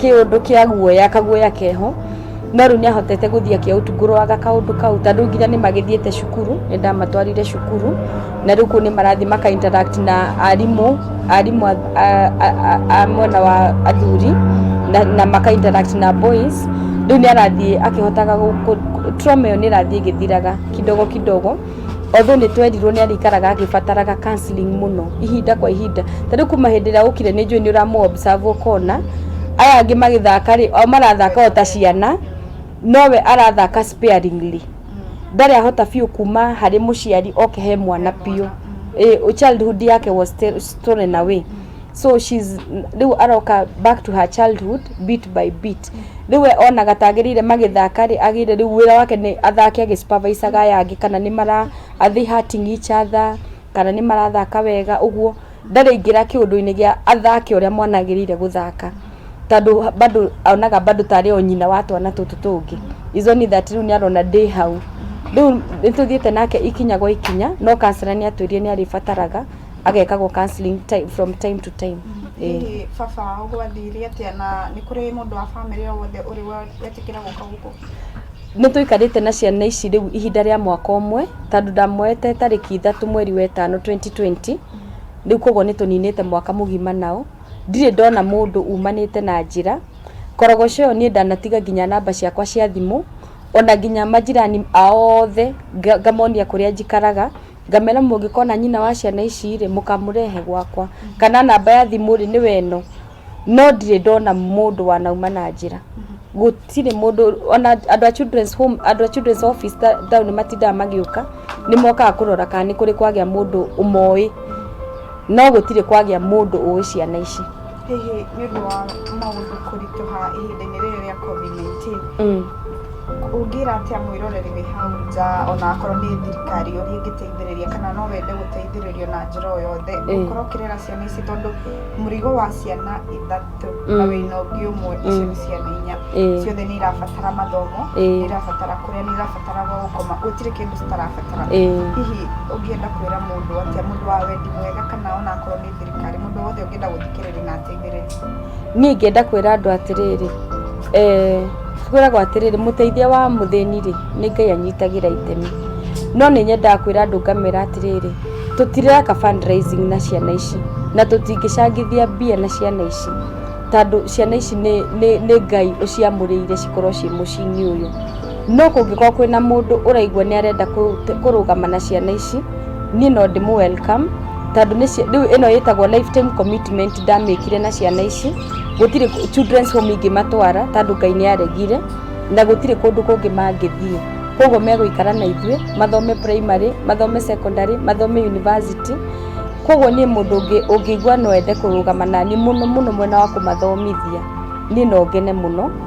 kĩũndũ kĩa guoya kaguoya keho no rĩu nĩ ahotete gũthiĩ akĩaũtungũrwaga kaũndũ kau tondũ nginya nĩ magĩthiĩte cukuru nĩ ndamatwarire cukuru na rĩu kũu nĩ marathiĩ maka interact na arimũ arimũ a- a- a- a- a mwena wa athuri na, na maka interact na boys rĩu nĩ arathiĩ akĩhotaga gũ- gũ- trauma ĩyo nĩ ĩrathiĩ ĩgĩthiraga kidogo kidogo Although nĩ twerirwo nĩ arĩikaraga agĩbataraga counselling mũno ihinda kwa ihinda. Ta rĩu kuma hĩndĩ ĩrĩa ũkire nĩ njũĩ nĩ ũramũ observe ũkona aya angĩ magĩthaka rĩ, o marathaka o ta ciana, nowe arathaka sparingly. Ndarĩ ahota biũ kuma harĩ mũciari oke he mwana biũ. Childhood yake was stolen away. so she's rĩu aroka back to her childhood bit by bit rĩu we onaga tagĩrĩire magĩthaka rĩ agĩire rĩu wĩra wake nĩ athake agĩsupervisaga aya angĩ kana nĩ mara are they hurting each other kana nĩ marathaka wega ũguo ndarĩ ingĩra kĩũndũ-inĩ gĩa athake ũrĩa mwana agĩrĩire gũthaka tondũ bado onaga bado tarĩ o nyina wa twana tũtũ tũngĩ is only that rĩu nĩ arona ndĩ hau rĩu nĩ tũthiĩte nake ikinya gwa ikinya no kanjũra nĩ atwĩrire nĩ arĩbataraga agekagwo counseling time, from time to time Ĩĩ. hihi baba wao gwathire atĩa na nĩ kũrĩ mũndũ wa bamĩrĩ o wothe ũrĩ wetĩkĩra gũka gũkũ nä tå ikarĩte na ciana ici rä u ihinda rĩa mwaka ũmwe tondå ndamoete tarĩki ithatå mweri wetano 2020 rä u koguo nä tå ninä te mwaka må gima nao ndirä ndona må ndå umanä te na njä ra korogoco ä yo niä ndanatiga nginya namba ciakwa cia thimå ona nginya manjirani aothe nga- ngamonia kå rä a njikaraga Ngamera mũngĩkona nyina wa ciana ici rĩ, mũkamũrehe gwakwa, kana namba ya thimũ rĩ, nĩwe ĩno. No ndirĩ ndona mũndũ wanauma na njĩra. Gũtirĩ mũndũ, ona andũ a children's home, andũ a children's office taũni matindaga magĩũka, nĩ mokaga kũrora kana nĩ kũrĩ kwagĩa mũndũ ũmowĩ, no gũtirĩ kwagĩa mũndũ ũwĩ ciana ici. hihi nĩ ũndũ wa maũndũ kũritũha ihinda-inĩ rĩrĩ rĩa COVID-19 mm. ũngĩra atĩa mwĩroreri wĩ hau nja ona akorwo nĩ thirikari ũrĩa ĩngĩteithĩrĩria kana no wende gũteithĩrĩrio na njĩra o yothe mm. ũkorwo ũkĩrera ciana ici tondũ mũrigo wa ciana ithatũ mm. na wĩna ũngĩ ũmwe mm. icio nĩ ciana inya mm. ciothe nĩ irabatara mathomo mm. nĩ irabatara kũrĩa nĩ irabatara gũkoma gũtirĩ kĩndũ citarabatara mm. hihi ũngĩenda kwĩra mũndũ atĩa mũndũ wa wendi mwega kana ona akorwo nĩ thirikari mundu wothe ũngĩenda gũthikĩrĩria na ateithĩrĩrie niĩ ingĩenda kwĩra andũ atĩrĩrĩ eh, kwĩragwo atĩrĩrĩ mũteithia wa mũthĩni rĩ nĩ ngai anyitagĩra itemi no nĩ nyendaga kwĩra andũ ngamera atĩrĩrĩ tũtireka fundraising na ciana ici na tũtingĩcangithia mbia na ciana ici tondũ ciana ici nĩ, nĩ, nĩ ngai ũciamũrĩire cikorwo ciĩ mũciĩ-inĩ ũyũ No kũngĩkorwo kwĩna mũndũ ũraigua nĩ arenda kũrũgama na ciana ici, niĩ no ndĩmũ welcome tondũ rĩu ĩno ĩtagwo life time commitment ndamĩkire na ciana ici, gũtirĩ children's home ingĩmatwara tondũ Ngai nĩ aregire na gũtirĩ kũndũ kũngĩ mangĩthiĩ. Kwoguo megũikara na ithuĩ mathome primary, mathome secondary, mathome university. Kwoguo niĩ mũndũ ũngĩigua no ende kũrũgama naniĩ mũno mũno mwena wa kũmathomithia, niĩ no ngene mũno.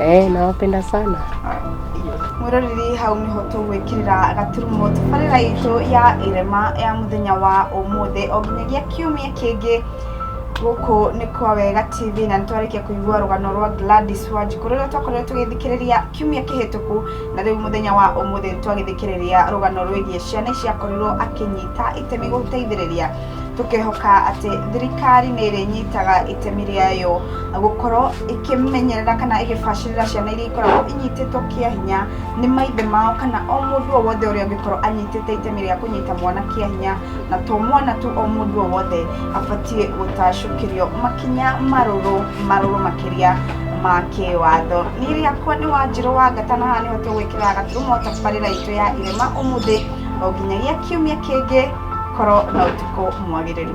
Eh, nawapenda sana. mwiroreri hau niho tugwikirira gaturumo tubarira itu ya irema ya muthenya wa umuthi o nginyagia kiumia kingi guku ni kwa wega tv na nitwarikia kuigua rugano rwa gladys wanjiku ruria twakorire tugithikiriria kiumia kihituku na riu muthenya wa umuthi nitwagithikiriria rugano rwigie ciana ici akorirwo akinyita itemi guteithiriria tũkehoka atĩ thirikari nĩ ĩrĩnyitaga itemi rĩayo gũkorwo ĩkĩmenyerera kana ĩgĩbacĩrĩra ciana iria ikoragwo inyitĩtwo kĩa hinya nĩ maithe mao kana o mũndũ o wothe ũrĩa ũngĩkorwo anyitĩte itemi rĩa kũnyita mwana kĩa hinya na to mwana tu o mũndũ o wothe abatiĩ gũtacũkĩrio makinya marũrũ marũrũ makĩria ma kĩwatho nĩ rĩakwa nĩ wanjĩrũ wa gatana haha nĩho tũgwĩkĩra gaturumo tabarĩra itũ ya irema ũmũthĩ o nginyagia kiumia kĩngĩ Korwo na ũtukũ mwagĩrĩru.